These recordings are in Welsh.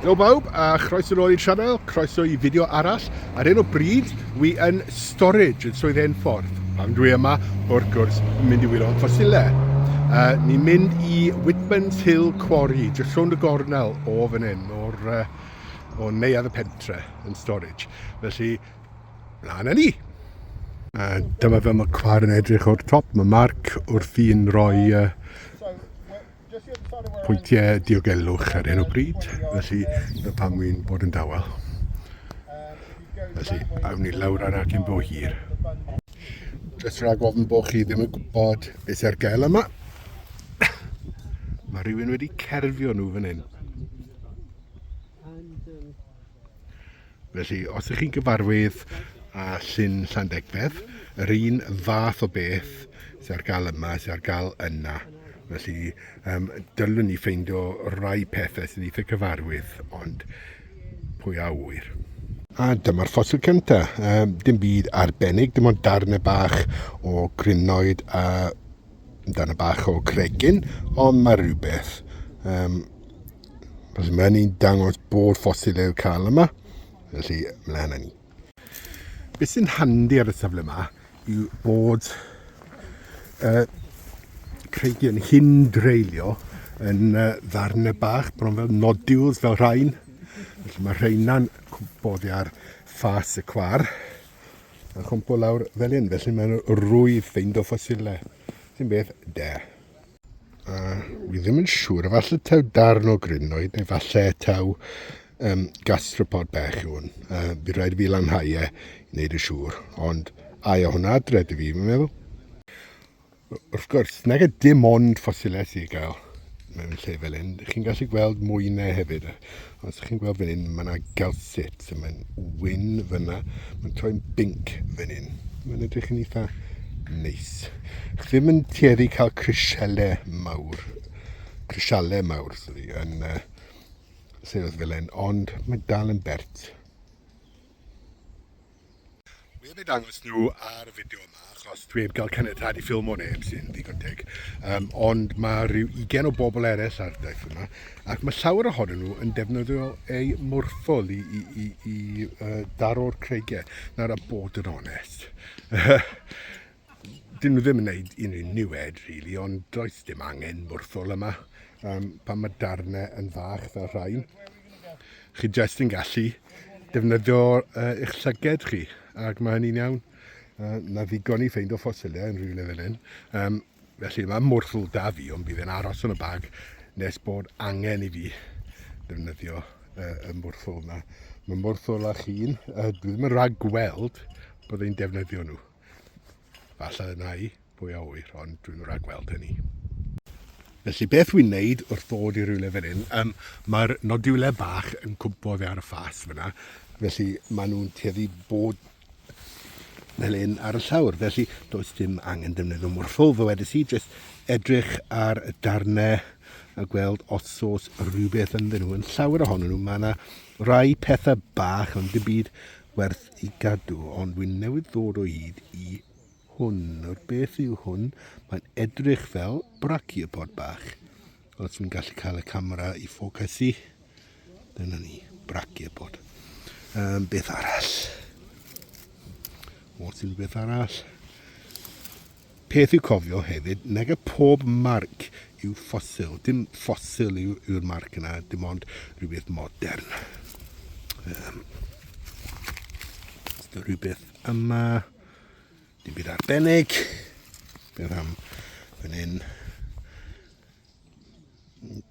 Helo bawb a chroeso nôl i'r sianel, croeso i fideo arall. Ar un o bryd, wi yn storage yn Swydd Enffordd. Pam dwi yma, wrth gwrs, yn mynd i wylo ffosilau. Uh, ni'n mynd i Whitman's Hill Quarry, jyst rhwng y gornel o fan hyn, o'r uh, o neuadd y pentre yn storage. Felly, Mlaen â ni! A dyma fel mae cwar yn edrych o'r top. Mae Mark wrth i'n rhoi uh, pwyntiau diogelwch ar hyn o bryd, felly na pam wy'n bod yn dawel. Felly, awn ni lawr ar acyn bo hir. Jyst rhag ofn bod chi ddim yn gwybod beth sy'n ar gael yma. Mae rhywun wedi cerfio nhw fan hyn. Felly, os ydych chi'n gyfarwydd â Llyn Llandegfedd, yr un fath o beth sydd ar gael yma, sydd ar gael yna. Felly, um, dylwn ni ffeindio rai pethau sy'n eitha cyfarwydd, ond pwy a wyr. A dyma'r ffosil cyntaf. Um, dim byd arbennig, dim ond darnau bach o grinoed a amdano bach o cregyn, ond mae rhywbeth. Um, felly mae'n ni'n dangos bod ffosil yw'r cael yma, felly mlaen â ni. Beth sy'n handi ar y safle yma yw bod uh, creigion hyn dreulio yn uh, ddarnau bach, bron fel nodules fel rhain. Felly mae rheina'n boddi ar ffas y cwar. a chwmpo lawr fel hyn, felly mae'n rwydd ffeind o ffosilau, sy'n beth da. A wi ddim yn siŵr, efallai taw darn o grinoed, neu falle taw um, gastropod bech yw hwn. Uh, fi rhaid fi lanhau e i wneud y siŵr, ond ai o hwnna adre dwi fi, fi'n meddwl. wrth gwrs, nag y dim ond ffosilau sy'n gael mewn lle fel hyn. Chi'n gallu gweld mwynau hefyd. Os chi'n gweld fan hyn, mae yna galsit. Mae'n wyn fyna. Mae'n troi'n binc fan hyn. Mae'n edrych yn eitha neis. Chi ddim yn tueddu cael crisialau mawr. Crisialau mawr, sorry, yn uh, Sir fel hyn. Ond mae dal yn bert. Wi heb eu dangos nhw ar y fideo yma achos dwi heb gael caniatad i ffilmo neb sy'n ddigon teg, um, ond mae rhyw ugen o bobl eraill ar y daith yma ac mae llawer ohonyn nhw yn defnyddio eu mwrthol i, i, i, i uh, daro'r creigiau. Nawr a bod yn onest, Dyn nhw ddim yn gwneud unrhyw niwed, really, ond does dim angen mwrthol yma. Um, pan mae darnau yn fach fel rhain, chi jyst yn gallu defnyddio uh, eich llyged chi, ac mae hynny'n iawn. Uh, na ddigon i ffeind o ffosilau yn rhywle fel hyn. Um, felly mae mwrthol da fi, ond bydd e'n aros yn y bag nes bod angen i fi defnyddio uh, y mwrthol yma. Mae mwrthol a chi'n, uh, dwi ddim yn rhag gweld bod e'n defnyddio nhw. Falle y nai, pwy a ŵyr, ond dwi'n rhagweld hynny. Felly beth wy'n neud wrth ddod i rywle fel hyn? Um, Mae'r nodiwle bach yn cwmpo oddi ar y ffas fyna, felly maen nhw'n tueddu bod fel hyn ar y llawr. Felly does dim angen defnyddio morffol, fe wedys i, jyst edrych ar y darnau a gweld os oes rhywbeth ynddyn nhw. Yn llawer ohonyn nhw, mae yna rai pethau bach ond dim byd werth i gadw, ond wi newydd ddod o hyd i hwn. Nawr beth yw hwn? Mae'n edrych fel brachiopod bach. Os fi'n gallu cael y camera i ffocysu, dyna ni, brachiopod. Um, beth arall? Os yw'n beth arall? Peth i'w cofio hefyd, nag y pob marc yw ffosil. Dim ffosil yw'r marc yna, dim ond rhywbeth modern. Um, rhywbeth yma, dim byd arbennig. Beth am fan hyn?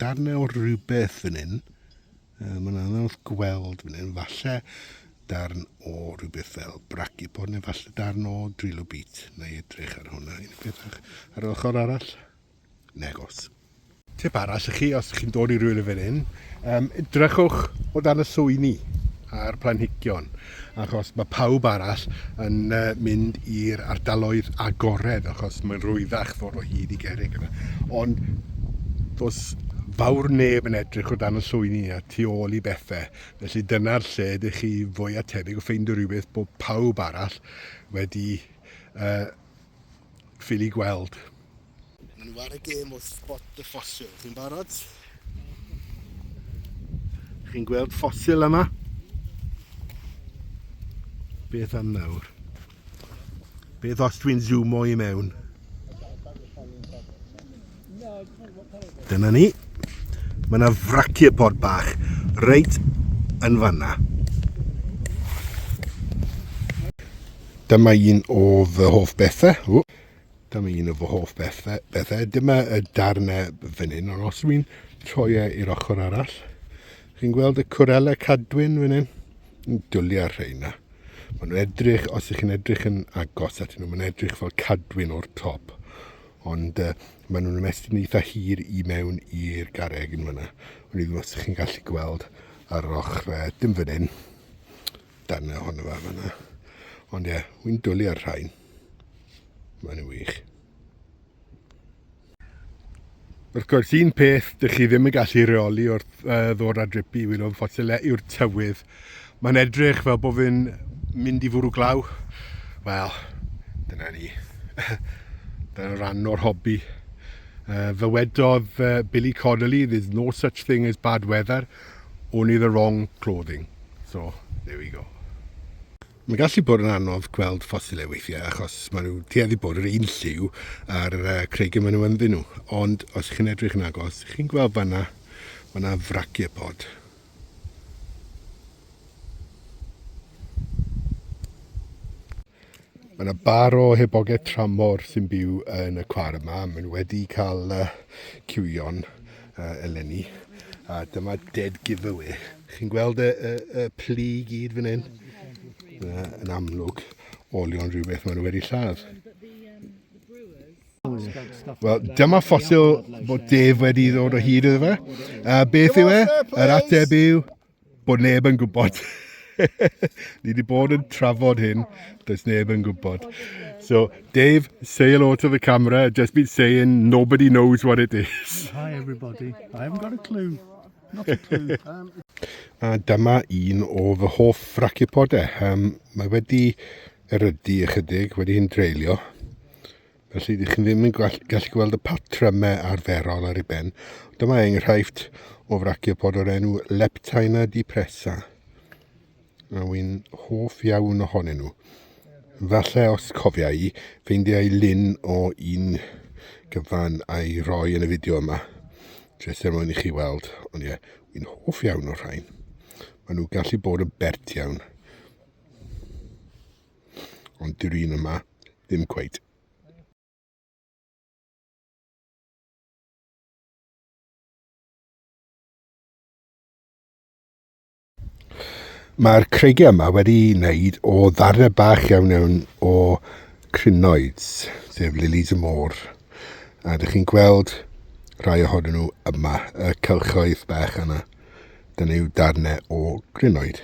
Darnau o rhywbeth fan hyn. Uh, Mae'n anodd gweld fan hyn, falle darn o rhywbeth fel brachypod neu falle darn o drilobit. Na i edrych ar hwnna. Un peth ar yr ochr arall? Negos. Tip arall i chi, os chi'n dod i rhywle fel hyn, um, edrychwch o dan y swini a'r planhigion. achos mae pawb arall yn mynd i'r ardaloedd agored achos mae'n rwyddach ffordd o hyd i gerrig yna. Ond does fawr neb yn edrych o dan y llwyni a tu ôl i bethau, felly dyna'r lle ydych chi fwy a tebyg o ffeindio rhywbeth bod pawb arall wedi uh, ffili gweld. Maen nhw ar y gêm o spot y ffosil. Chi'n barod? Chi'n gweld ffosil yma? Beth am nawr? Beth os dwi'n zoomo i mewn? Dyna ni. Mae yna fraciopod bach reit yn fanna. Dyma un o fy hoff bethau. Dyma un o fy hoff bethau. bethau. Dyma y darnau fan hyn, ond os dwi'n troi e i'r ochr arall, chi'n gweld y cwrelau cadwyn fan hyn? Yn dwliau'r rheina. Mae nhw'n edrych, os ych chi'n edrych yn agos at nhw, mae'n edrych fel cadwyn o'r top. Ond uh, maen nhw'n ymestyn eitha hir i mewn i'r gareg yn fyna. Ond i ddim os ych chi'n gallu gweld ar ochr, uh, dim fan hyn, darnau ohono fe fyna. Ond ie, yeah, wy'n dwliau'r rhain. Mae'n nhw wych. Wrth gwrs, un peth dych chi ddim yn gallu reoli wrth uh, ddod â drip i wylo ffosylau e yw'r tywydd. Mae'n edrych fel bod fi'n mynd i fwrw glaw. Wel, dyna ni. dyna rhan o'r hobi. Uh, fe wedodd uh, Billy Connolly, there's no such thing as bad weather, only the wrong clothing. So, there we go. Mae'n gallu bod yn anodd gweld ffosilau weithiau achos maen nhw tueddu bod yr un lliw ar y creigiau maen nhw ynddyn nhw. Ond os chi'n edrych yn agos, chi'n gweld fanna, mae yna frachiopod. Mae yna bar o hebogau tramor sy'n byw yn y cwar yma. Maen nhw wedi cael uh, cywio'n A eleni, a dyma dead giveaway. Chi'n gweld y, y, y plu i gyd fan hyn? Dyna yn amlwg olion rhywbeth maen nhw wedi lladd. Wel, dyma ffosil bod Dave wedi ddod o hyd iddo fe. A beth yw e? Yr ateb yw bod neb yn gwybod. Ni wedi bod yn trafod hyn, does neb yn gwybod. So, Dave, say hello to the camera. Just been saying nobody knows what it is. Hi everybody. I haven't got a clue. Not a clue. Um... A dyma un o fy hoff fracipodau. Um, mae wedi erydu ychydig, wedi hyn dreulio. Felly, dych chi'n ddim yn gallu gweld y patrymau arferol ar ei ben. Dyma enghraifft o fraciopod o'r enw Leptina depressa. A wy'n hoff iawn ohonyn nhw. Falle os cofia i, ffeindiau lun o un gyfan a'i roi yn y fideo yma. Jyst er mwyn i chi weld. Ond ie, wy'n hoff iawn o'r rhain. Maen nhw gallu bod yn bert iawn. Ond dyw'r un yma ddim cweit. Mae'r creigiau yma wedi wneud o ddarnau bach iawn iawn o crinoids, sef lilies y môr. A ydych chi'n gweld rhai ohonyn nhw yma, y cylchoedd bach yna. Dyna yw darnau o grinoed.